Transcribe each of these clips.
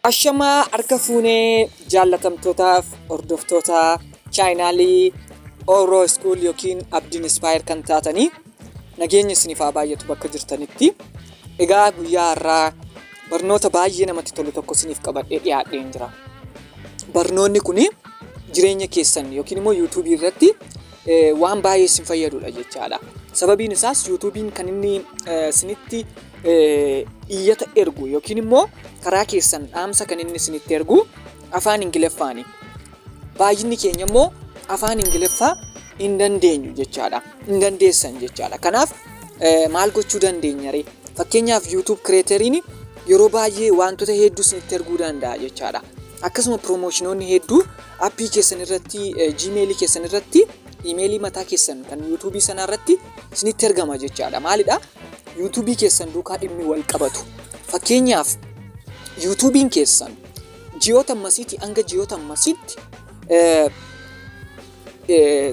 Ashamaa harka fuunee jaallatamtootaaf hordoftoota chaayinaalii Oro School yookiin Abdiin Ispaayer kan taatanii Nageenyi isiniif haa baay'atu bakka jirtanitti. Egaa guyyaa har'aa barnoota baay'ee namatti tolu tokko isiniif qabadhee dhiyaadheen jira. Barnoonni kun jireenya keessan yookiin immoo yuutuubii irratti waan baay'ee isin fayyadudha jechaadha. Sababiin isaas yuutuubiin kan inni isinitti iyyata ergu yookiin immoo karaa keessan dhaamsa kan inni isinitti ergu afaan Ingiliffaani. Baay'inni keenya immoo afaan Ingiliffaa hin dandeenyu jechaadha. Hin dandeessan jechaadha. Kanaaf eh, maal gochuu dandeenya ree? Fakkeenyaaf YouTube kireeteriin yeroo baay'ee wantoota hedduu isinitti erguu danda'a jechaadha. Akkasuma piroomoshinoonni hedduu appii keessan irratti, eh, jiimeelii keessan irratti, imeelii mataa keessan kan YouTube sanaa irratti isinitti ergama jechaadha. Maalidha? YouTube keessan duukaa dhimmi wal qabatu. Fakkeenyaaf YouTube'n keessan ji'oota ammasiitii hanga ji'oota ammasiitti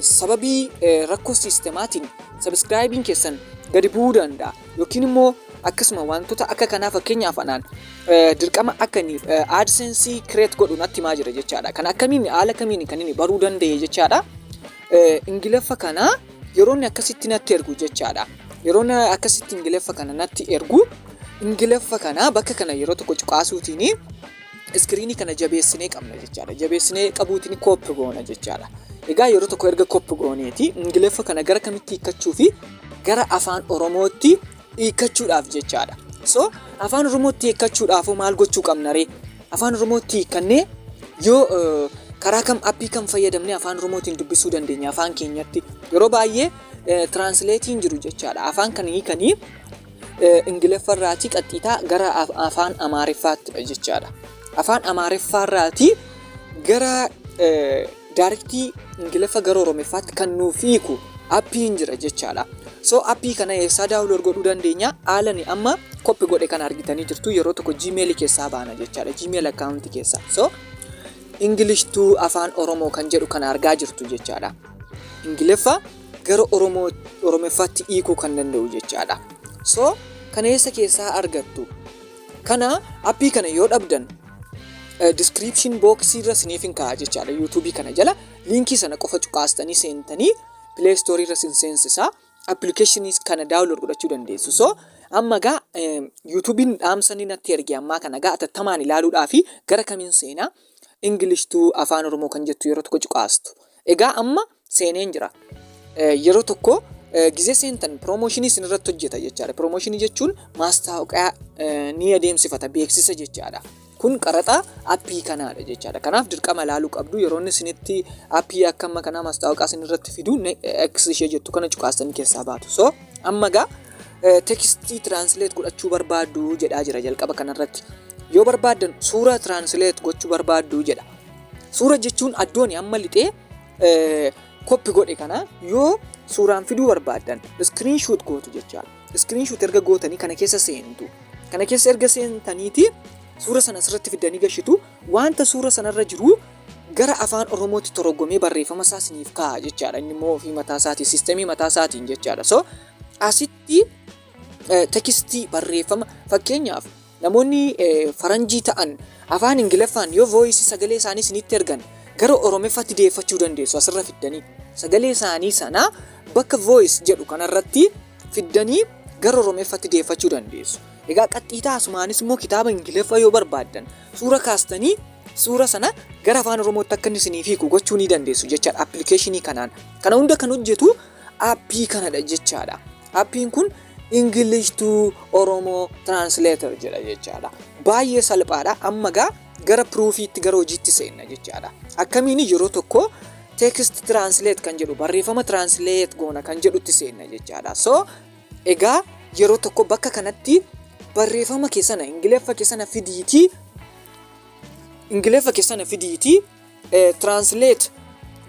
sababii rakkoo siistemaatiin sabiskiraayibiin keessan gadi bu'uu danda'a yookiin immoo akkasuma wantoota akka kanaa fakkeenyaaf anaan dirqama akka inni aadseensii kireet godhu natti himaa jira jechaadha. Kan akkamiin haala kamiin kan inni baruu danda'e jechaadha. Ingiliffa kana yeroo inni akkasitti natti ergu jechaadha. Yeroo inni akkasitti Ingiliffa kana natti ergu Ingiliffa kana bakka kana yeroo tokko cuqaasuutiin iskiriinii kana jabeessinee qabna jechaadha. Jabeessinee qabuutiin kooppi goona jechaadha. Egaa yeroo tokko erga kooppi gooneeti Ingiliffa kana gara kamitti hiikkachuu fi gara afaan Oromootti hiikkachuudhaaf jechaadha. So afaan Oromootti hiikkachuudhaafoo maal gochuu qabna ree? Afaan Oromootti hiikkannee yoo eh, karaa kam appii kam fayyadamnee afaan Oromootiin dubbisuu dandeenya afaan keenyatti. Yeroo baay'ee eh, tiraansileetiin jiru jechaadha. Afaan kan hiikanii eh, Ingiliffarraatii qaxxiitaa gara af- afaan Amaariffaattidha jechaadha. Afaan Amaariffaarraatii gara eh, Daarektii ingiliffa gara oromiffaatti kan nuuf hiiku appiin jira jechaadha. So appii kana eessaa daawuloor godhuu dandeenya? Haalani amma koppi godhe kana argitanii jirtu yeroo tokko gmail keessaa baana jechaadha. Gmail account keessaa. So English to afaan Oromoo kan jedhu kana argaa jirtu jechaadha. Ingiliffa gara Oromoo Oromiffaatti hiikuu kan danda'u jechaadha. So kana eessa keessaa argattu? Kana appii kana yoo dhabdan description box irra siniif hin kaa'a jechaadha YouTube kana jala liinkii sana qofa cuqaastanii seentanii play store irra sin seensisa applications kana download godhachuu dandeessu so amma gaa YouTube'n dhaamsanii natti erge ammaa kana gaa atattamaan ilaaluudhaa fi gara kamiin seenaa English to afaan Oromoo kan jettu yeroo tokko cuqaastu Egaa amma seeneen jira. Yeroo tokko gizee seentan piroomooshinii isin irratti hojjeta jechaadha. Piroomooshinii jechuun maastaawoqaa ni adeemsifata beeksisa jechaadha. Kun qaraxa appii kanaadha jechaadha. Kanaaf dirqama ilaaluu qabdu yeroo inni isinitti appii akka amma kanaa maastaawoqaa isin irratti fidu X ishee jettu kana cuqaastanii keessaa baatu. So amma gaa tekstii tiraansileet godhachuu barbaaddu jedhaa jira jalqaba kanarratti. Yoo barbaaddan suura tiraansileet gochuu barbaaddu jedha. Suura jechuun addooni amma lixee koppi godhe kana yoo suuraan fiduu barbaaddan iskiriin shuut gootu jechaadha. Iskiriin shuut erga gootanii kana keessa seentu. Kana keessa erga seentaniiti suura sana asirratti fiddanii gashitu wanta suura sanarra jiru gara afaan Oromootti toroggomee barreeffama isaa isiniif kaa'a jechaadha. Inni immoo ofii mataa isaatiin siistemii mataa isaatiin jechaadha. So asitti tekstii barreeffama fakkeenyaaf Namoonni faranjii ta'an afaan ingilaffaan yoo voice sagalee isaanii isinitti ergan gara oromeffatti deeffachuu dandeessu asirra fiddanii sagalee isaanii sana bakka voice jedhu kanarratti fiddanii gara oromeffatti deeffachuu dandeessu. Egaa qaxxiitaa asumaanis immoo kitaaba ingiliffa yoo barbaaddan suura kaastanii suura sana gara afaan oromootti akka inni isiniif hiiku gochuu ni dandeessu jechaadha appilikeeshinii kanaan. Kana hunda kan hojjetu aappii kanadha jechaadha. Appiin kun English to Oromo Translator jedha jechaadha. Baay'ee salphaadha. Amma gaa gara piroofiitti gara hojiitti seenna jechaadha. Akkamiin yeroo tokko text translate kan jedhu barreeffama translate goona kan jedhutti seenna jechaadha. So egaa yeroo tokko bakka kanatti barreeffama keessana ingiliffa keessana fidiitii ingiliffa keessana fidiitii Translate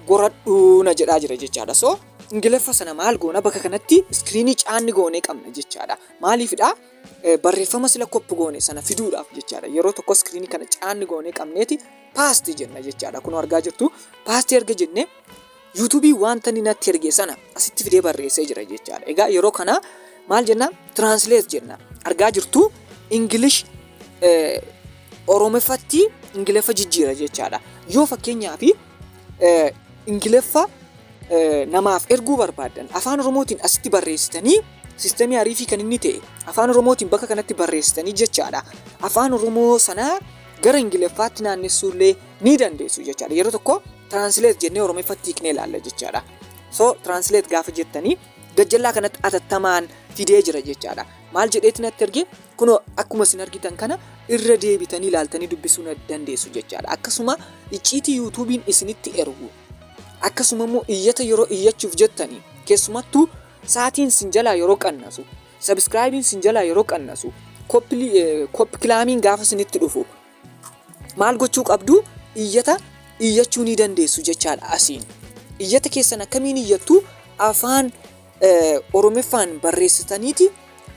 goradhuu na jedhaa jira jechaadha. So ingiliffa sana maal goona bakka kanatti iskiriinii caanni goonee qabna jechaadha. Maaliifidha? Barreeffama sila koppi goone sana fiduudhaaf jechaadha. Yeroo tokko iskiriinii kana caanni goonee qabneeti paasti jenna jechaadha. Kun argaa jirtu paasti erga jennee YouTube wanta inni natti erge sana asitti fidee barreessee jira jechaadha. Egaa yeroo kana maal jenna? Translate jenna. Argaa jirtu English eh, Oromiffatti Ingiliffa jijjiira jechaadha. Yoo fakkeenyaaf eh, Ingiliffa eh, namaaf erguu barbaaddan afaan Oromootiin asitti barreessitanii sistemii ariifii kan inni ta'e afaan Oromootiin bakka kanatti barreessitanii jechaadha. Afaan Oromoo sanaa gara Ingiliffaatti naannessuullee ni dandeessu jechaadha. Yeroo tokko translate jennee Oromiffatti hiiknee ilaalla jechaadha. So translate gaafa jettanii gajjallaa kanatti atattamaan fidee jira jechaadha. Maal jedheeti natti erge kunoo akkuma isin argitan kana irra deebitanii ilaaltanii dubbisuu na dandeessu jechaadha. Akkasuma icciitii yuutuubiin isinitti ergu akkasuma immoo iyyata yeroo iyyachuuf jettanii keessumattuu saatiin isin jalaa yeroo qannasu sabiskiraayibiin isin jalaa yeroo qannasu koppikilaamiin gaafa isinitti dhufu Maal gochuu qabdu? Iyyata iyyachuu ni dandeessu jechaadha asiin. Iyyata keessan akkamiin iyyattu? Afaan Oromiffaan barreessitaniiti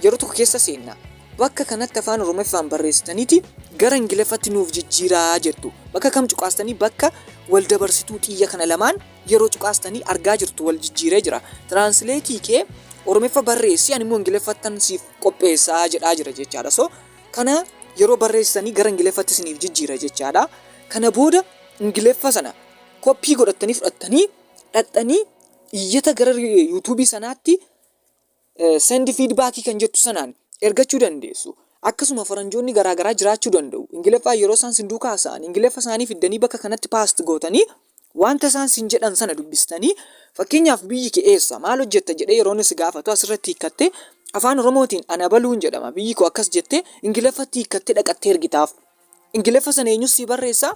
yeroo tokko keessa seenna. Bakka kanatti afaan Oromiffaan barreessitaniiti gara Ingiliffatti nuuf jijjiiraa jettu. Bakka kam cuqaastanii bakka wal dabarsituu xiyya kana lamaan yeroo cuqaastanii argaa jirtu wal jijjiiree jira. Tiraansileetii kee Oromiffa barreessi ani immoo Ingiliffattan siif qopheessaa jedhaa jira jechaadha. So Kana yeroo barreessitanii gara Ingiliffatti isiniif jijjiira jechaadha. Kana booda Ingiliffa sana koppii godhattanii fudhattanii dhaqxanii iyyata gara yuutuubii sanaatti sendi fiidbaakii kan jettu sanaan ergachuu dandeessu. Akkasuma faranjoonni garaagaraa jiraachuu danda'u. Ingiliffaa yeroo isaan sin duukaa haasa'an Ingiliffa isaanii fiddanii bakka kanatti paast gootanii Wanta isaan sin jedhan sana dubbistanii, fakkeenyaaf biyyi kee eessa? Maal hojjetta? jedhee yeroo inni si gaafatu asirratti hiikkattee afaan Oromootiin ana baluun jedhama biyyi koo akkas jettee Ingiliffatti hiikkattee dhaqattee ergitaaf. Ingiliffa sana eenyus sii barreessaa?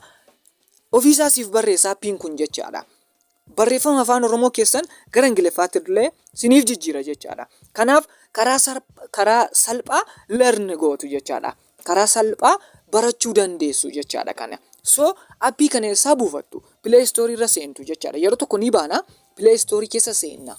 Ofiisaa siif barreessa appiin kun jechaadha. Barreeffama afaan Oromoo keessan gara Ingiliffaatti illee siniif jijjiira jechaadha. Kanaaf karaa sarp- karaa salphaa learn gootu jechaadha. karaa salphaa barachuu dandeessu jechaadha kana. So appii kana eessaa buufattu? Play Store irra seentu jechaadha. Yeroo tokko ni baana Play Store keessa seenna.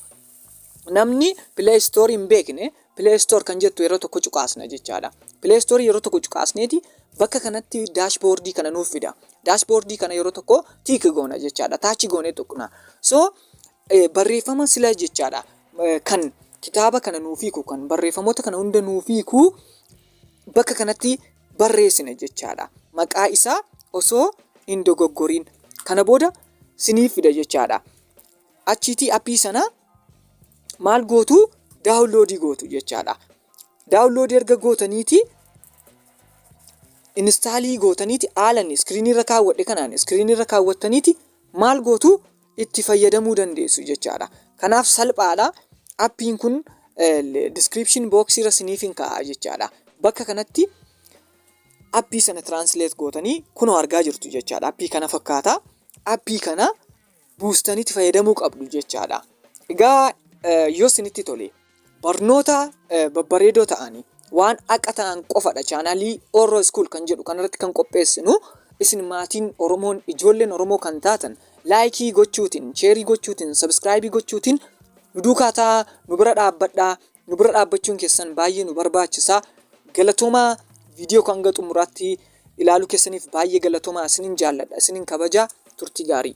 Namni Play Store hin beekne Play Store kan jettu yeroo tokko cuqaasna jechaadha. Play Store yeroo tokko cuqaasneeti bakka kanatti daashboordii kana nuuf fida. Daashboordii kana yeroo tokko tiik goona jechaadha. Taachi goonee tuqna. So eh, barreeffama sila jechaadha eh, kan kitaaba kana nuuf hiiku kan barreeffamoota kana hunda nuuf hiiku bakka kanatti barreessina jechaadha. Maqaa isaa osoo hin dogoggoriin kana booda siniif fida jechaadha. Achiitii appii sana maal gootu daawunloodii gootu jechaadha. Daawunloodii erga gootaniiti inistaalii gootaniiti haalan iskiriinii irra kaawwadhe kanaan iskiriinii irra kaawwattaniiti maal gootu itti fayyadamuu dandeessu jechaadha. Kanaaf salphaadha. Appiin kun description box irra siniif hin kaa'a jechaadha. Bakka kanatti appii sana translate gootanii kunoo argaa jirtu jechaadha. Appii kana fakkaata. Appii kana buustanitti fayyadamuu qabdu jechaadha. Egaa yoo sinitti tole barnoota babbareedoo ta'anii waan haqa ta'an qofadha chaanaalii Oro School kan jedhu kanarratti kan qopheessinu isin maatiin Oromoon ijoolleen Oromoo kan taatan laayikii gochuutiin sheerii gochuutiin sabiskiraayibii gochuutiin nu duukaa ta'aa nu bira dhaabbadhaa nu bira dhaabbachuun keessan baay'ee nu barbaachisa galatoomaa viidiyoo kan hanga xumuraatti ilaaluu keessaniif baay'ee galatoomaa isinin jaalladha isinin kabajaa turtii gaarii.